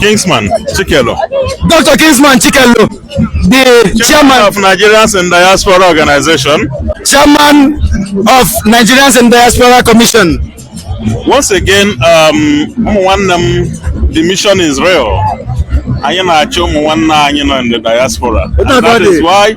Kingsman Chikelo. Dr. Kingsman Chikelo, the chairman, chairman of Nigerians in Diaspora Organization, chairman of Nigerians in Diaspora Commission. Once again, um, one um, the mission is real. anyị na-achọ ụmụ nwanne anyị nọ in the diaspora and that is why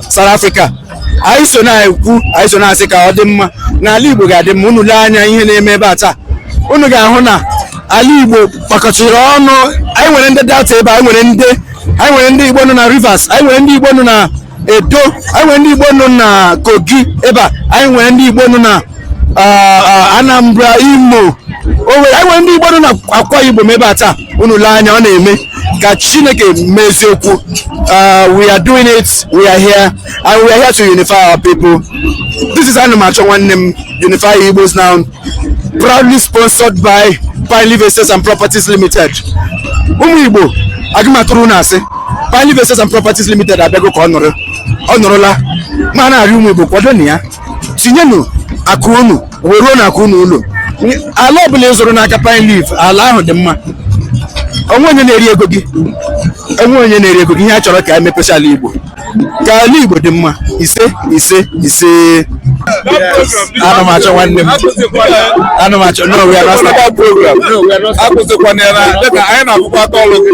South Africa anyị so na-ekwu anyị so na-asị ka ọ dị mma na ala Igbo ga-adị mma unu lee anya ihe na-eme ebe a taa unu ga-ahụ na ala Igbo kpakọchiri ọnụ anyị nwere ndị Delta ebe a anyị nwere ndị anyị nwere ndị Igbo nọ na Rivers anyị nwere ndị Igbo nọ na Edo anyị nwere ndị Igbo nọ na Kogi ebe a anyị nwere ndị Igbo nọ na ah, ah, Anambra Imo o nwere anyị nwere ndị Igbo nọ na Akwa Ibom ebe a taa unu lee anya ọ na-eme ka chineke mee eziokwu uh, we are doing it we are here and we are here to unify our people this is ana m achọ nwanne m unify igbos now proudly sponsored by pine leaf estate and properties limited ụmụ igbo agaghị m atụrụ unu asị pine leaf estate and properties limited abịago ka ọ nọrọ ọ nọrọla ma na-arịọ ụmụ igbo kwadonụ ya tinyenụ akụ unu wee ruo na akụ unu ụlọ ala ọbụla ị zụrụ n'aka pine leaf ala ahụ dị mma onweghị onye na-eri ego gị onweghị onye na-eri ego gị ihe a chọrọ ka emepesịa ala igbo ka ala igbo dị mma ise ise ise ana m achọ nwanne m ana m achọ no we are not program akwụsịkwana ya na anyị na-akwụkwọ aka ọrụ gị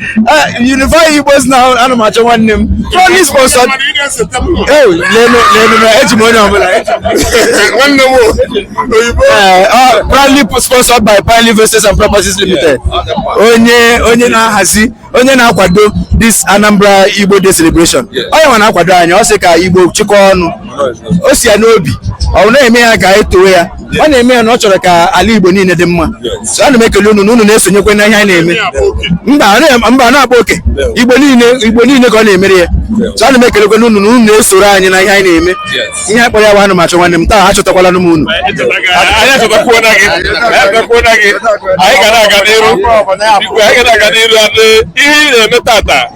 Eh, Unify Igbos now ana m achọ nwanne m proudly sponsored eji m onye ọbụla nwanne m oyibo eh, ah, proudly sponsored by Pine Leaf Estate and Properties Limited onye onye na-ahazi onye na-akwado this Anambra Igbo Day celebration onye nwa na-akwado anyị ọ sị ka Igbo chịkọ ọnụ o si ya n'obi ọ na-eme ya ka etowe ya ọ na-eme ya na ọ chọrọ ka ala Igbo niile dị mma so ana m ekele unu na unu na-esonyekwa na ihe anyị na-eme mba a na-akpa oke Igbo niile ka ọ na-emere ya so ana m ekelekwa na unu na unu na-esoro anyị na ihe anyị na-eme ihe akpọrọ ya bụ ana m achọ nwanne m taa achọtakwala m unu anyị ga na-aga n'iru ihe ị na-eme tata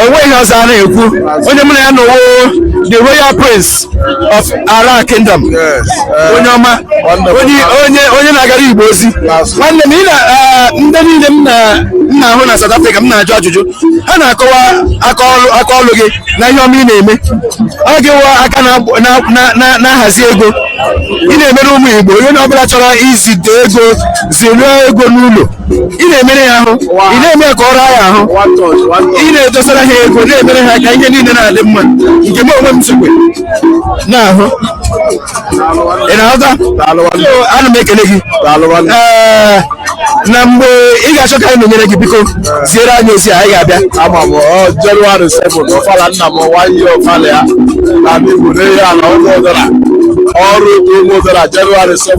onweghị ọzọ a na-ekwu onye mụ na ya nọwa the royal prince of ara kingdom onye ọma onye onye onye na-agara igbo ozi nwanne m ị na eh, ndị niile m na- m na-ahụ na south africa m na-ajụ ajụjụ ha na-akọwa aka ọlụ gị na ihe ọma ị na-eme ọ gịwa aka na-agb- na- na- na- na-ahazi ego ị na-emere ụmụ igbo onye ọbụla chọrọ izite ego ziruo ego n'ụlọ ị na-emere ya ahụ ị na-eme ya ka ọ raa ya ahụ ị na-edosara ha ego na-emere ha ka ihe niile na-adị mma nke m onwe m sokwe na-ahụ ị na-aghọta ana m ekele gị ee na mgbe ị ga-achọ ka anyị nọnyere gị biko ziere anyị ozi anyị ga-abịa ama m jenụwarị 7 ọfala nna m nwanyị ọfala ya na ndị Igbo na-eyi ala ọnụ ụdara ọrụ ụmụ ụdara jenụwarị 7